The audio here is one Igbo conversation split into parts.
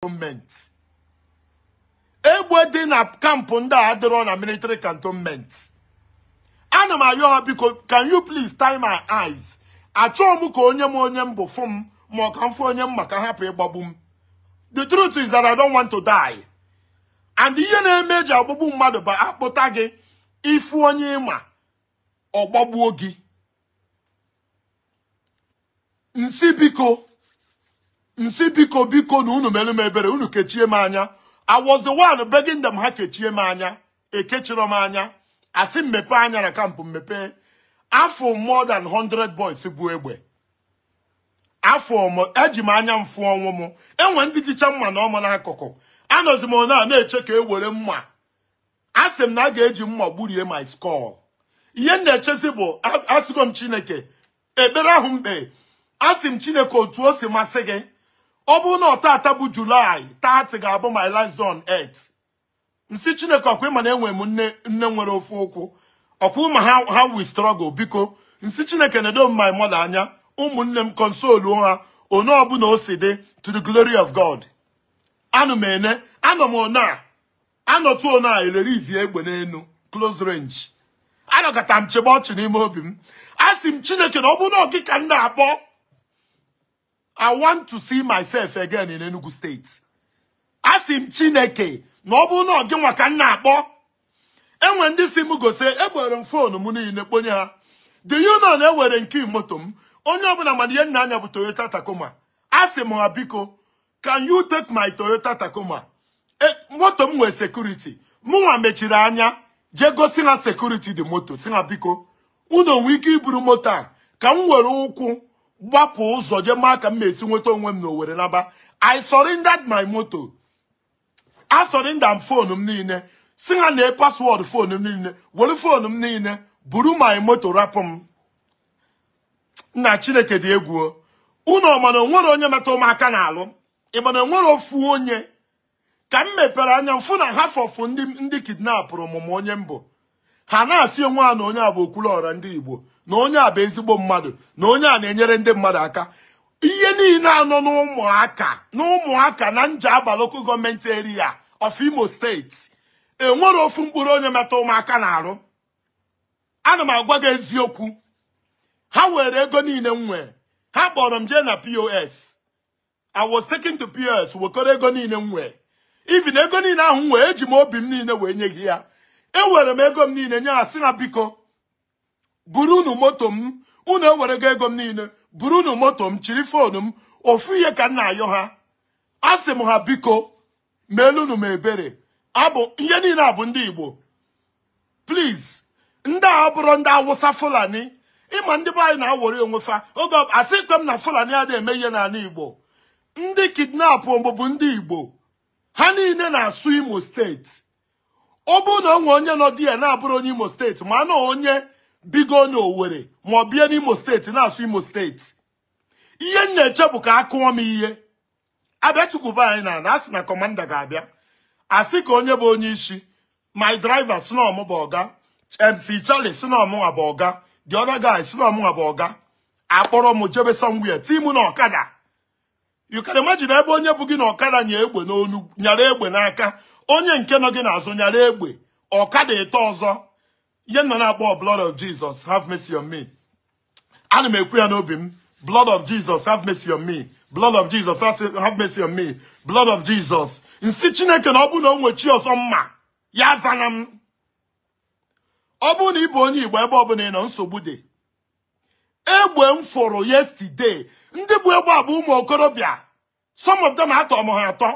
cantonment egbe dị na kampụ ndị a adịrọ na military cantonment ana m ayọ ha biko can you please tie my eyes achọọ m ka onye ma onye m bụ fụ m ma ọ ka m fụ onye m ma ka a hapụ ịgbagbu m the truth is that I don't want to die and ihe na-eme eji agbagbu mmadụ bụ akpụta gị ị fụ onye ị ma ọ gbagbuo gị m sị biko m sị biko biko na unu mere m ebere unu kechie m anya I was the one begging them ha kechie m anya ekechirọ m anya a sị m mepee anya na kampụ m mepee afụ m more than 100 boys bu egbe afụ m eji m anya m fụ ọnwụ m enwe ndị jicha mma na ọmụ n'akụkụ anọzi m ona na-eche ka e were mma asị m na a ga-eji mma gburie my skull ihe m na-echezi bụ asịgo m chineke ekpere ahụ m kpe asị m chineke otu o si masị gị ọ bụrụ na ọ tata bụ July 30 ga-abụ my last day on earth m sị chineke ọkwa ị ma na enwe m nne nne nwere ofu ụkwụ ọkwa ị ma how we struggle biko m sị chineke nedo m my mother anya ụmụnne m console ha one ọbụna o si dị to the glory of god anụ m ene anọ m one a anọtụ ọ na-elerizi egbe n'enu close range anọkata m chebe ọchị n'ime obi m asị m chineke na ọ bụrụ na ọ gị ka m na-akpọ i want to see myself again in Enugu State asị m chineke na ọ bụrụ na ọ gịnwa ka m na-akpọ enwe ndị sị m gosi ewere m phone m niile kponye ha do you know na ewere nke moto m onye ọbụla ma na ihe m na-anya bụ Toyota Tacoma asị m ha biko can you take my Toyota Tacoma e, moto m nwee security mụnwa mechiri anya jee gosi ha security dị moto sị ha biko unu o nwe ike iburu moto a ka m were ụkwụ gbapụ ụzọ jee maa ka m ga-esi nweta onwe m n'Owerri naba I surrendered my moto I surrendered phone m niile sị ha nee password phone m niile were phone m niile buru my moto rapụ m nna chineke dị egwu unu ọ ma na onwerọ onye metụ m aka n'arụ ị ma na onwerọ ofu onye ka m mepere anya m fụ na half of ndị ndị kidnapụrụ mụ ma onye m bụ ha na-asị onwe ha na onye a bụ Okwuluọra ndị igbo na onye a bụ ezigbo mmadụ na onye a na-enyere ndị mmadụ aka ihe niile a nọ n'Umuaka n'Umuaka na Njaba local government area of Imo State enwerọ ofu mkpụrụ onye metụ m aka n'arụ ana m agwa gị eziokwu ha were ego niile m nwee ha kpọrọ m jee na pos i was taken to pos wekọrọ ego niile m nwee even ego niile ahụ m nwee eji m obi m niile wee nye gị ya ewere m ego m niile nye ha sị ha biko buru unu moto m unu ewere ego m niile buru unu moto m chiri foonu m ofu ihe ka m na-ayọ ha asị m ha biko meelunu m ebere abụ ihe niile a bụ ndị Igbo please ndị a abụrọ ndị awụsa fulani ị ma ndị be anyị na-awọrị onwe fa oge asịkwe m na fulani adịghị eme ihe n'ala igbo ndị kidnapụ bụ ndị igbo ha niile na-asụ imo steeti ọ bụrụ na o nwe onye nọ there na-abụrọ onye imo steeti ma na onye bigo na owere ma ọ bie n'imo steeti na-asụ imo steeti ihe m na-eche bụ ka a kụọ m ihe a bịa tukwuba anyị n'ana a sị na kọmanda ga-abịa a sị ka onye bụ onye isi my driver sị na ọ mụ bụ ọga mc charlie sị na ọ mụnwa bụ ọga the other guy sị na ọ mụnwa bụ ọga a kpọrọ m jebe somewhere ti mụ na ọkada you can imagine ebe onye bu gị na ọkada nya egbe n'olu nyara egbe n'aka onye nke nọ gị n'azụ nyara egbe ọkada ịtọ ọzọ ihe m nọ na-akpọ blood of Jesus have mercy on me ana m ekwu ya n'obi m blood of Jesus have mercy on me blood of Jesus have mercy on me blood of Jesus m sị chineke na ọ bụrụ na o nwe chi ọzọ m ma ya azana m ọ bụrụ na ị bụ onye igbo ebe ọbụla ị nọ nsogbu dị egbe m fụrụ yesterday ndị bu egbe a bụ ụmụ okorobịa some of them atọ m ha atọ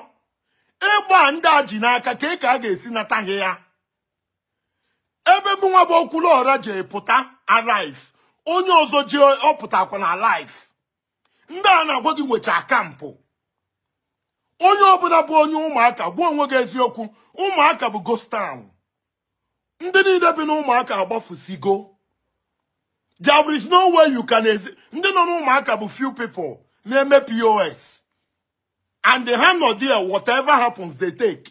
egbe a ndị a ji n'aka kee ka a ga-esi nata ha ya ebe mụnwa bụ okwuluọra ji pụta alive onye ọzọ ji ọ pụtakwa na alive ndị a na-agwa gị nwechaa kampụ onye ọbụla bụ onye ụmụaka gwa onwe gị eziokwu ụmụaka bụ ghost town ndị niile bi n'ụmụaka agbafusigo there is no way you can ezi ndị nọ n'ụmụaka bụ few people na-eme pos and ha nọ there whatever happens they take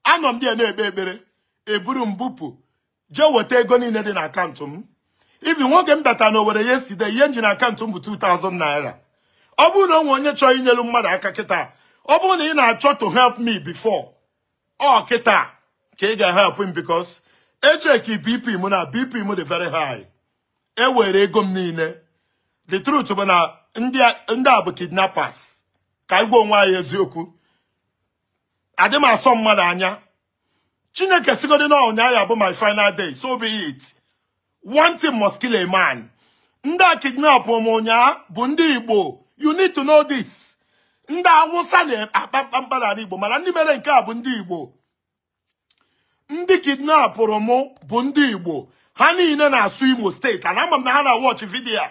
anọ m there na-ekpe ekpere e buru m bupụ jee weta ego niile dị na akaụntụ m even oge m bata na owere yesterday ihe m ji na akaụntụ m bụ 2000 naira ọ bụrụ na o nwe onye chọọ inyelu mmadụ aka kịta ọ bụrụ na ị na-achọ to help me before ọ kịta ka ị ga-help m because echeki bp m na bp m dị very high e were ego m niile the truth bụ na ndị a bụ kidnappers ka anyị gwa onwe anyị eziokwu adị m asọ mmadụ anya chineke sịgodi na ụnyaa ya bụ my final day so be it one thing must kill a man ndị kidnapụrụ m ụnyaa bụ ndị igbo you need to know this ndị awụsa na-akpa mkpamkpa n'ala igbo mana ndị mere nke a bụ ndị igbo ndị kidnapụrụ m bụ ndị igbo ha niile na-asụ imo state and ama m na ha na watch video a